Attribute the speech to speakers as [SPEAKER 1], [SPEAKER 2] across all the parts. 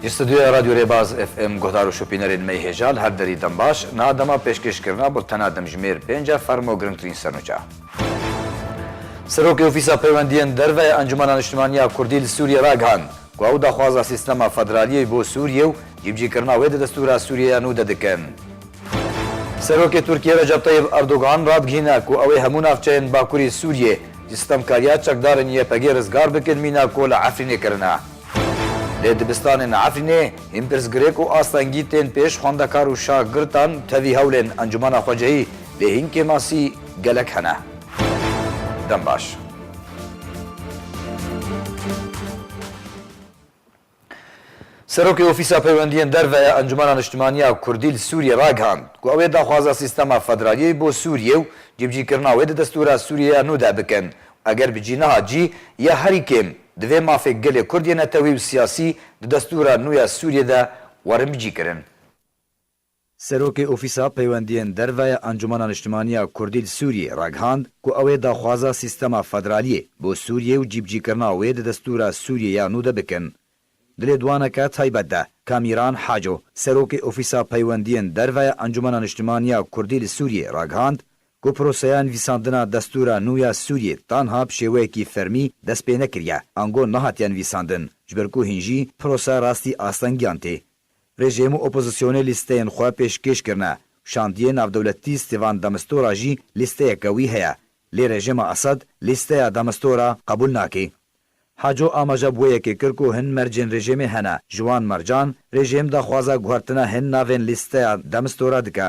[SPEAKER 1] Ji stûdyoya Radyo Rêbaz FM guhdar û şopînerên me hêja li her derî dem baş. Niha dema pêşkêşkirina bultena demjimêr pênc e fermo girngtirîn sernûçe. Serokê Ofîsa Peywendiyên Derve ya Encûmena Niştimaniya Kurdî li Sûriyê ragihand, ku ew daxwaza sîstema federaliyê bo Sûriyê û cîbicîkirina wê di destûra Sûriyê ya nû de dikin. Serokê Tirkiyê Recep Tayyib Erdogan radigihîne ku ew ê hemû navçeyên bakurî Sûriyê ji sitemkariya çekdarên YPGê rizgar bikin mîna ku li Efrînê kirine. Lê dibistanên li Efrînê hîn pirsgirêk û astengî tên pêş xwendekar û şagirtan tevî hewlên encûmena xwecihî lê hîn kêmasî gelek hene. Dem baş. Serokê Ofîsa Peywendiyên Derve ya Encûmena Niştimaniya Kurdî li Sûriyê ragihand ku ew ê daxwaza sîstema federaliyê bo Sûriyê û cîbicîkirina wê di destûra Sûriyê ya nû de bikin û eger bi cî nehat jî ya herî kêm divê mafê gelê Kurd yê netewî û siyasî di destûra nû ya Sûriyê de werin bicîkirin. Serokê Ofîsa Peywendiyên Derve ya Encûmena Niştimaniya ya Kurdî li Sûriyê raghand ku ew ê daxwaza sîstema federaliyê bo Sûriyê û cîbicîkirina wê di destûra Sûriyê ya nû de bikin. Di lêdwaneke taybet de Kamîran Haco, Serokê Ofîsa Peywendiyên Derve ya Encûmena Niştimaniya ya Kurdî li Sûriyê raghand ku proseya nivîsandina destûra nû ya Sûriyê tanha bi şêweyekî fermî dest pê nekiriye ango nehatiye nivîsandin ji ber ku hîn jî prosa rastî astengiyan tê Rejîm û opozisyonê lîsteyên xwe pêşkêş kirine. Şandiyê navdewletî Stêvan Demistora jî lîsteyeke wî heye. Lê rejîma Esad lîsteya Demistora qebûl nake. Haco amaja bi wê yekê kir ku hin mercên rejîmê hene, ji wan mercan rejîm daxwaza guhertina hin navên lîsteya Demistora dike.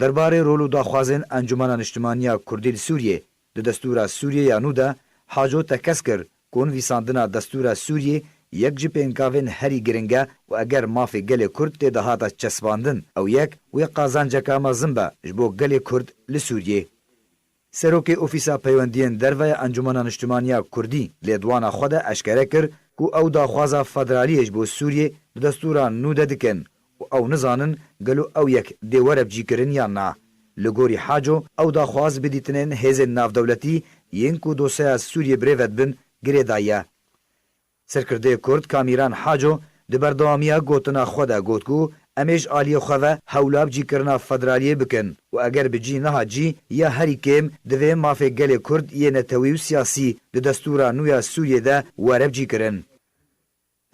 [SPEAKER 1] Derbarê rol û daxwazên Encûmena Niştimanî ya Kurdî li Sûriyê di destûra Sûriyê ya nû de, Haco tekez kir ku nivîsandina destûra Sûriyê yek ji pêngavên herî giring e û eger mafê gelê Kurd tê de hate çesbandin, ew yek wê qazanceke mezin be ji bo gelê Kurd li Sûriyê. Serokê Ofîsa Peywendiyên Derve ya Encûmena Niştimanî ya Kurdî lêdwana xwe de eşkere kir ku ew daxwaza federaliyê ji bo Sûriyê di destûra nû de dikin û ew nizanin gelo ew yek dê were bicîkirin yan na. Li gorî Haco ew daxwaz bi dîtinên hêzên navdewletî yên ku dosyeya Sûriyê birêve dibin girê daye. Serkirdeyê Kurd Kamîran Haco di berdewamiya gotina xwe de got ku em ê ji aliyê xwe ve hewla bi cîkirina federaliyê bikin û eger bi cî nehat jî ya herî kêm divê mafê gelê Kurd yê netewî û siyasî di destûra nû ya Sûriyê de were bi cîkirin.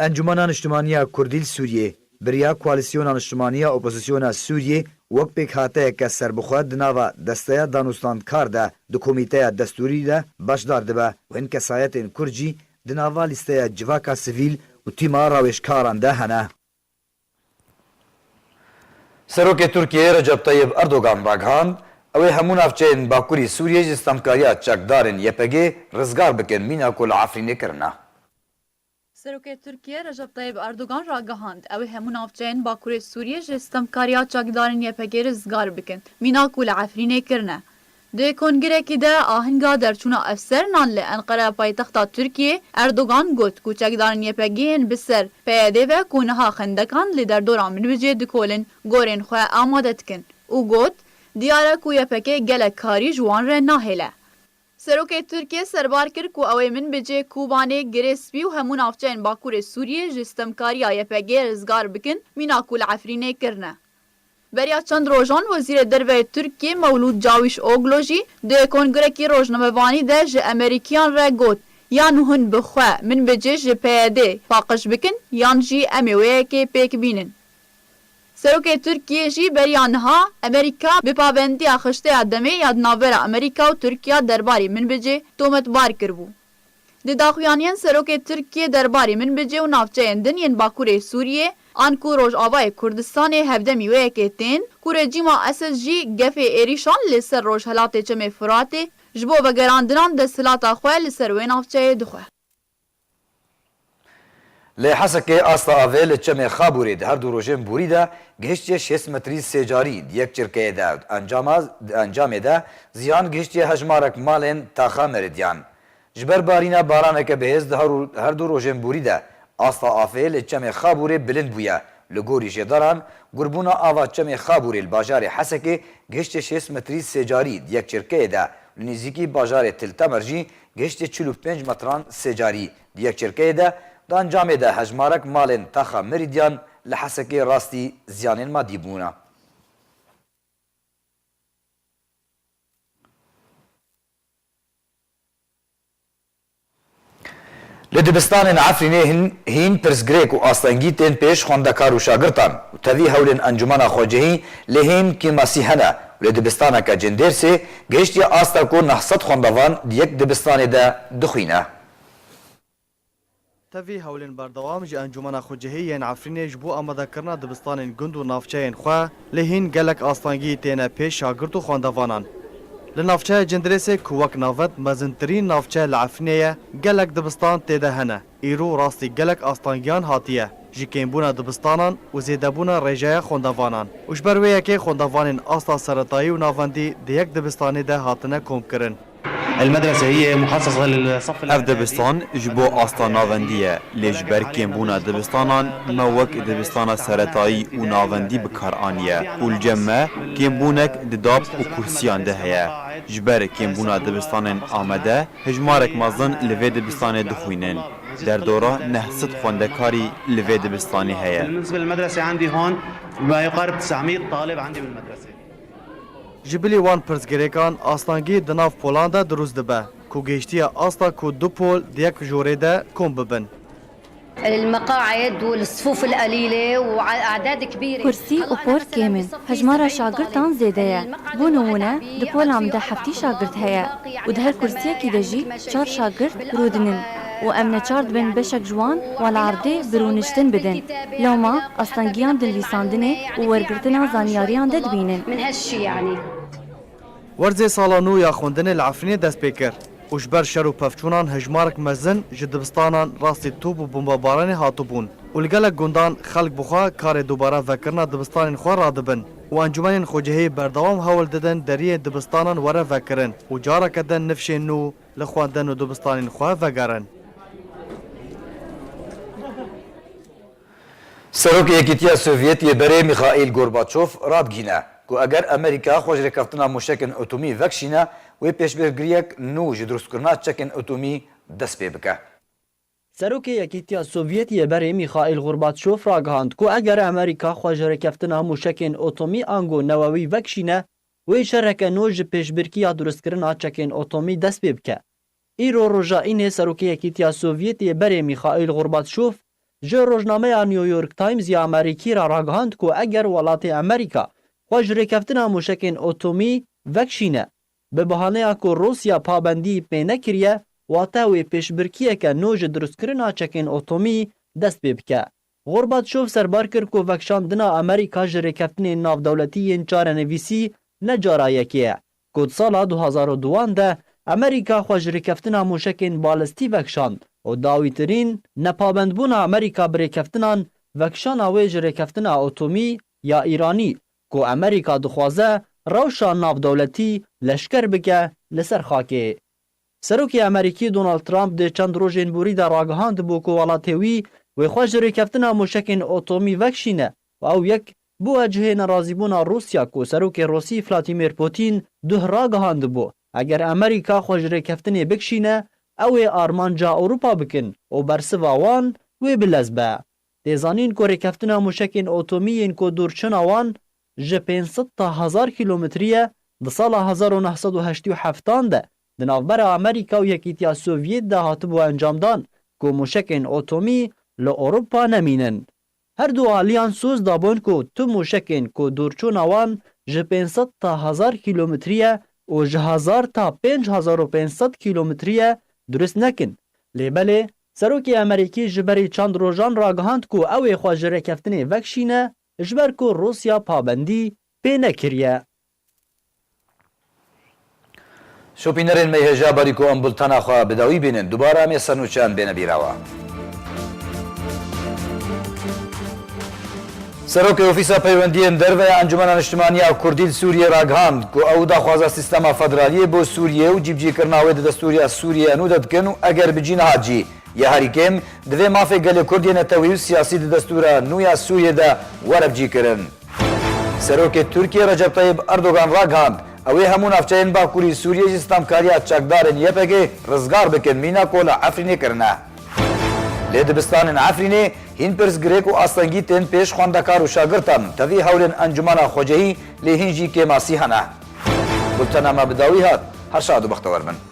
[SPEAKER 1] Encûmena Niştimaniya Kurdî li Sûriyê biriya koalîsyona niştimanî ya opozîsyona Sûriyê wek pêkhateyeke serbixwe di nava Desteya Danûstandkar de di komîteya destûrî de beşdar dibe û hin kesayetên Kurd jî Di nava lîsteya civaka sivîl û tîma rawêjkaran de hene. Serokê Tirkiyeyê Recep Tayyib Erdogan ragihand, Ew ê hemû navçeyên Bakurî Sûriyê ji stemkariya çekdarên YPG'ê rizgar bikin mîna ku li Efrînê kirine.
[SPEAKER 2] Serokê Tirkiyeyê Recep Tayyib Erdogan ragihand, Ew ê hemû navçeyên Bakurê Sûriyê ji stemkariya çekdarên YPG'ê rizgar bikin mîna ku li Efrînê kirine. Di kongirekî de ahinga derçûna efserinan li Enqere paytexta Tirkiyê, Erdogan got ku çekdarên YPG'ê yên bi ser PYD'ê ve ku niha xendekan li derdora Minbicê dikolin, gorên xwe amade dikin û got, Diyar e ku YPG gelek karî ji wan re nahêle. Serokê Tirkiyê serbar kir ku ew ê Minbicê, Kûbanê, Girê Spî û hemû navçeyên Bakurê Sûriyê ji sitemkariya YPG'ê rizgar bikin, mîna ku li Efrînê kirine. Beriya çend rojan Wezîrê Derve yê Tirkiyê Mewlûd Cawîş Oglu jî di kongrekî rojnamevanî de ji Emerîkiyan re got, Yan hûn bi xwe, min bi cih ji PYDê, paqij bikin yan jî em ê wê yekê pêk bînin. Serokê Tirkiyê jî beriya niha Emerîka bi pabendiya xişteya demê ya di navbera Emerîka û Tirkiya derbarê min bi cih tometbar kiribû. Di daxuyaniyên Serokê Tirkiyê derbarê Minbicê û navçeyên din yên Bakurê Sûriyê an ku Rojavayê Kurdistanê hevdemî wê yekê tên ku rejîma Esed jî gefê êrîşan li ser rojhelatê Çemê Furatê ji bo vegerandinan desthilata xwe li ser wê navçeyê dixwe. Li
[SPEAKER 1] Hesekê asta avê li çemê Xabûrê di her du rojên borî de gihiştiye şêst metrî sê carî di yek çirkeyê de û encama di encamê de ziyan gihiştiye hejmarek malên taxa meridiyan. Ji ber barîna baraneke bihêz di her du rojên borî de asta afê li çemê Xabûrê bilind bûye. Li gorî jêdaran gurbûna ava çemê Xabûrê li bajarê Hesekê gihiştiye şêst metrî sê carî di yek çirkeyê de û li nîzîkî bajarê Til Temer jî gihiştiye çil û pênc metran sê carî Di yekçerkeyê de Gancamê de hejmarek malên Taxa Mirîdyan li Hesekê rastî ziyanên madî bûne. Li dibistanên Efrînê hîn pirsgirêk û astengî tên pêş xwendekar û şagirtan û tevî hewlên Encûmena Xwecihî lê hîn kêmasî hene û lê dibistaneke Cindêrsê gihiştiye asta ku neh sed xwendevan di yek dibistanê de dixwîne.
[SPEAKER 3] Tevî hewlên berdewam ji Encûmena Xwecihî yên Efrînê ji bo amadekirina dibistanên gund û navçeyên xwe lê hîn gelek astangî têne pê şagirt û xwendevanan. Li navçeya Cindirêsê ku wek navend mezintirîn navçe li Efrînê ye gelek dibistan tê de hene. Îro rastî gelek astangiyan hatiye ji kêmbûna dibistanan û zêdebûna rêjeya xwendevanan û ji ber wê yekê xwendevanên asta seretayî û navendî di yek dibistanê de hatine komkirin.
[SPEAKER 4] Ev dibistan
[SPEAKER 5] ji bo asta navendî ye, lê ji ber kêmbûna dibistanan me wek dibistana seretayî û navendî bi kar aniye û li cem me kêmbûnek di dab û kursiyan de heye. Ji ber kêmbûna dibistanên amade hejmarek mezin li vê dibistanê dixwînin. Derdora neh sed xwendekarî li vê dibistanê heye.
[SPEAKER 4] Ji
[SPEAKER 3] bilî wan pirsgirêkan astangî di nav polan de dirûst dibe ku gêştiye asta ku du pol di yek jorê de kom bibin.
[SPEAKER 6] Kursî û pol kêm
[SPEAKER 7] in, hejmara şagirtan zêde ye. Bo nimûne di polan de heftî şagirt heye û di her kursiyekî de jî çar şagirt rûdinin. û em neçar dibin beşek ji wan wan li erdê bi rûniştin bidin. Loma astengiyan di nivîsandinê û wergirtina zanyariyan de dibînin.
[SPEAKER 3] Werzê sala nû ya xwendinê li Efrînê dest pê kir û ji ber şer û pevçûnan hejmarek mezin ji dibistanan rastî top û bombebaranê hatibûn û li gelek gundan xelk bi xwe karê dubare vekirina dibistanên xwe radibin û encûmenên xwecihî berdewam hewl didin deriyê dibistanan were vekirin û careke din nifşên nû Li xwendin û dibistanên xwe vegerin.
[SPEAKER 1] Serokê Yekîtiya Sovyetî yê berê Mîxaîl Gorbaçof radgihîne ku eger Amerîka xwe ji rêkeftina mûşekên etomî vekişîne wê pêşbirkiriyek nû ji drustkirina çekên etomî dest pê bike. Serokê
[SPEAKER 8] Yekîtiya Sovyetî yê berê Mîxaîl Gorbaçof ragihand ku eger Amerîka xwe ji rêkeftina mûşekên etomî ango newewî vekişîne, Wê şereke nû ji pêşbirkiya durustkirina çekên otomî dest pê bike. Îro roja înê Serokê Yekîtiya Sovyetê yê berê Mîxaîl Xorbatşof ji rojnameya New York Times ya Amerîkî re ragihand ku eger welatê Amerîka xwe ji rêkeftina mûşekên otomî vekişîne bi bahaneya ku Rûsya pabendî pê nekiriye wate wê pêşbirkiyeke nû ji durustkirina çekên otomî dest pê bike. Gorbaçov serbar kir ku vekşandina Amerîka ji rêkeftinên navdewletî yên çarenivîsî ne cara yekê ye, ku di sala du hezar û dû an de Amerîka xwe ji rêkeftina mûşekên balistî vekşand û dawîtirîn nepabendbûna Amerîka bi rêkeftinan vekişana wê ji rêkeftina atomî ya Îranî ku Amerîka dixwaze rewşa navdewletî leşker bike li ser xakê Serokê Amerîkî Donald Trump di çend rojên borî de ragihandibû ku welatê wî wê xwe ji rêkeftina mûşekên otomî vekişîne û ew yek bûye cihê nerazîbûna Rûsya ku Serokê Rûsî Vladimir Pûtîn duh ragihandibû eger Amerîka xwe ji rêkeftinê bikişîne ew ê armanca Ewropa bikin û bersiva wan wê bi lez be. Tê zanîn ku rêkeftina mûşekên otomî yên ku dûrçina wan ji pênc sed ta hezar kîlometrîye di sala hezar û neh sed û heştî û heft an de di navbera Amerîka û Yekîtiya Sovyêt de hatibû encamdan ku mûşekên otomî li Ewropa nemînin. Her du aliyan soz dabûn ku tu mûşekên ku dûrçûna wan ji pênc sed ta hezar kîlometrîye û ji hezar ta pênc hezar û pênc sed kîlometrîye durist nekin. Lê belê Serokê Amerîkî ji berî çend rojan ragihand ku ew ê xwe ji rêkeftinê vekişîne Ji ber ku Rûsya pabendî pê nekiriye.
[SPEAKER 1] Şopînerên me yê hêja berî ku em bultena xwe bi dawî bînin, dubare em yê sernûçeyan bêne bîrawa. Serokê Ofîsa Peywendiyên Derve ya Encûmena Niştimanî ya Kurdî li Sûriyê ragihand ku ew daxwaza sîstema federaliyê bo Sûriyê û cîbicîkirina wê di destûrîya Sûriyê enû de dikin û eger bi cî nehat jî Ya herî kêm, divê mafê gelê Kurd yê netewî û siyasî di destûra nû ya Sûriyê de were bicîkirin. Serokê Tirkiyê Recep Tayyîp Erdogan ragihand, ew ê hemû navçeyên bakurî Sûriyê ji stamkariya çakdarên YPGê rizgar bikin mîna ku li Efrînê kirine. Lê dibistanên Efrînê hîn pirsgirêk û astengî tên pêş xwendekar û şagirtan, tevî hewlên encûmena xwecehî lê hîn jî kêm asî hene. Bultena me bi dawî hat. Her şad û bextewer bin.